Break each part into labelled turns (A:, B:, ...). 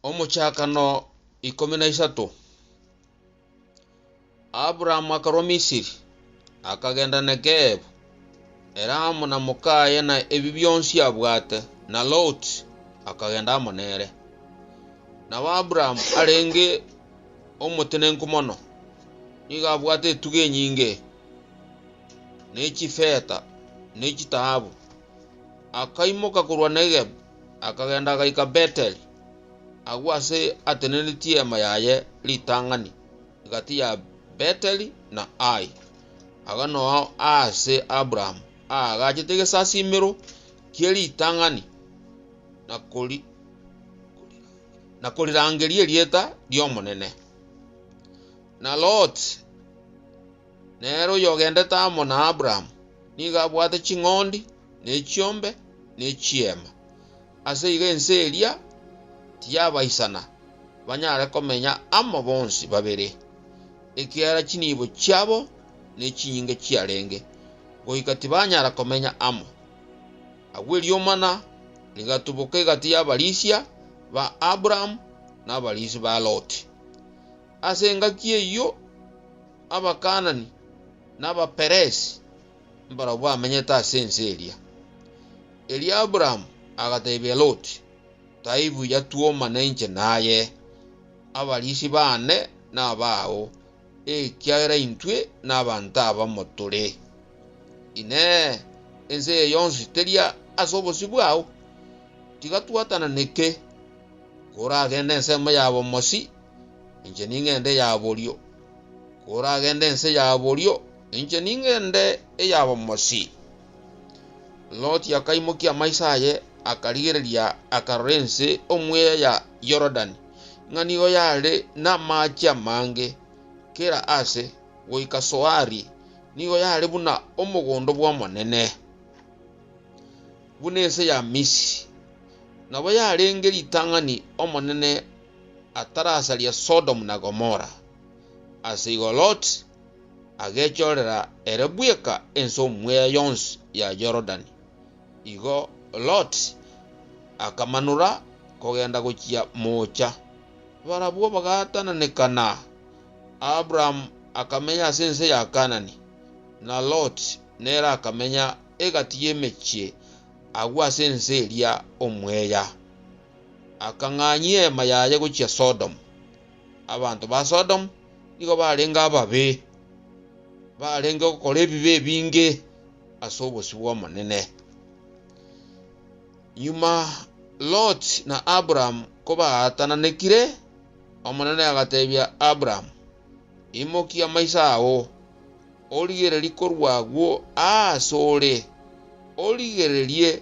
A: Omochakano ikomi na isato, Abraham akarwa Misiri, akagenda Negebu, ere amo na mokaye na ebi bionsi abwate, na Lot akagenda amo nere. Nabo Abraham arenge omotenenku mono, nigo abwate etugo enyinge, ne chifeta, ne chitaabu. Akaimoka korwa Negebu, Akagenda agaika Beteli. Agwo aase atenenetie eema yaye ritang'ani egati ya Beteli na Ai, agwo nao aase Abraham aagachete egesasimero kie ritang'ani na kori- na korirangeria erieta ri'Omonene. Na Loti, Nere oyogendete amo na Abrahamu nigo abwate ching'ondi, ne chiombe, ne chiema. Ase igo ense eria tiyabaisana banyare komenya amo bonsi babere, ekiagera chinibo chiabo ne chinyinga chiarenge, goika tibanyara komenya amo. Agwo eriomana rigatuboka egati y'abarisia ba Abrahamu na abarisia ba Loti. Ase engaki eyio Abakaanani na Abaperesi mbarabwo bamenyete ase ense eria. Erio Abrahamu agateebia Loti, Taibuya twomane inche naye, abariisi baane na abao, ekiagera intwe nabanto abamo tore. Inee! Ense eye yonsi teri ase obosio bwao? Tiga twatananeke, koragende ensemo yabo mosi, inche ning'ende eya borio, koragende ense ya borio, inche ning'ende eya bomosi. Loti akaimokia amaiso aye, akarigereria, akarora ense omweya ya Yorodani, ng'a nigo yare namache amange, kera aase goika Soari, nigo yare buna omogondo bw'Omonene, buna ense ya Misiri, nabo yarenge ritang'ani Omonene atarasaria Sodomu na Gomora, ase igo Loti agechorera ere bweka ense omweya yonsi ya Yorodani. Igo Loti akamanora kogenda gochia moocha, barabwo bagaatananekana. Abrahamu akamenya ase ense ya Kaanani, na Loti nere akamenya egati y'emechie agwo ase ense eria omweya. akang'anyia eema yaye gochia Sodomu. Abanto ba Sodomu nigo barenge ababe, barenge gokora ebibe ebinge ase obosio bw'Omonene. Nyuma Lot na Abraham kobaatananekire, Omonene agateebia Abraham, Imokia maiso ao, origererie korwa agwo asore, origererie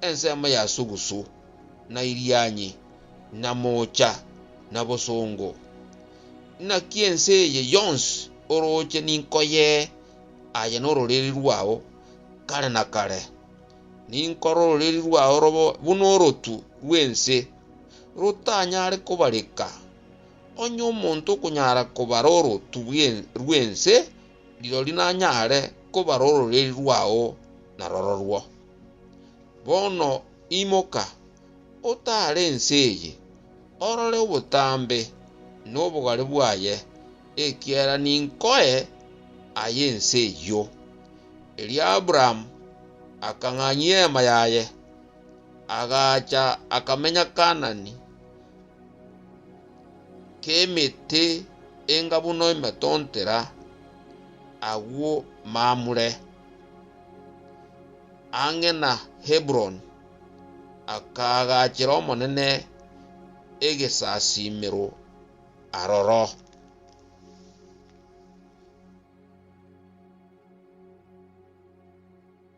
A: ensemo ya sugusu, na irianyi, na moocha, na bosongo. Naki ense eye yonsi orooche ninkoye aye nororiri rwao kare na kare. Ninkore ororiri rwao robe buna orotu rw'ense, rotanyare kobareka. Onye omonto okonyara kobara orotu rw'ense, rirorio nanyare kobara ororeri rwao na rororwo. Bono imoka, otaare ense eye, orore obotambe na obogare bwaye, ekiagera ninkoe aye ense eyio. Erio Abrahamu akang'anyia eema yaye, agaacha akamenya Kaanani. k'emete enga buna emetontera agwo Mamure, ang'e na Heburoni, akaagachera Omonene egesasimero aroro.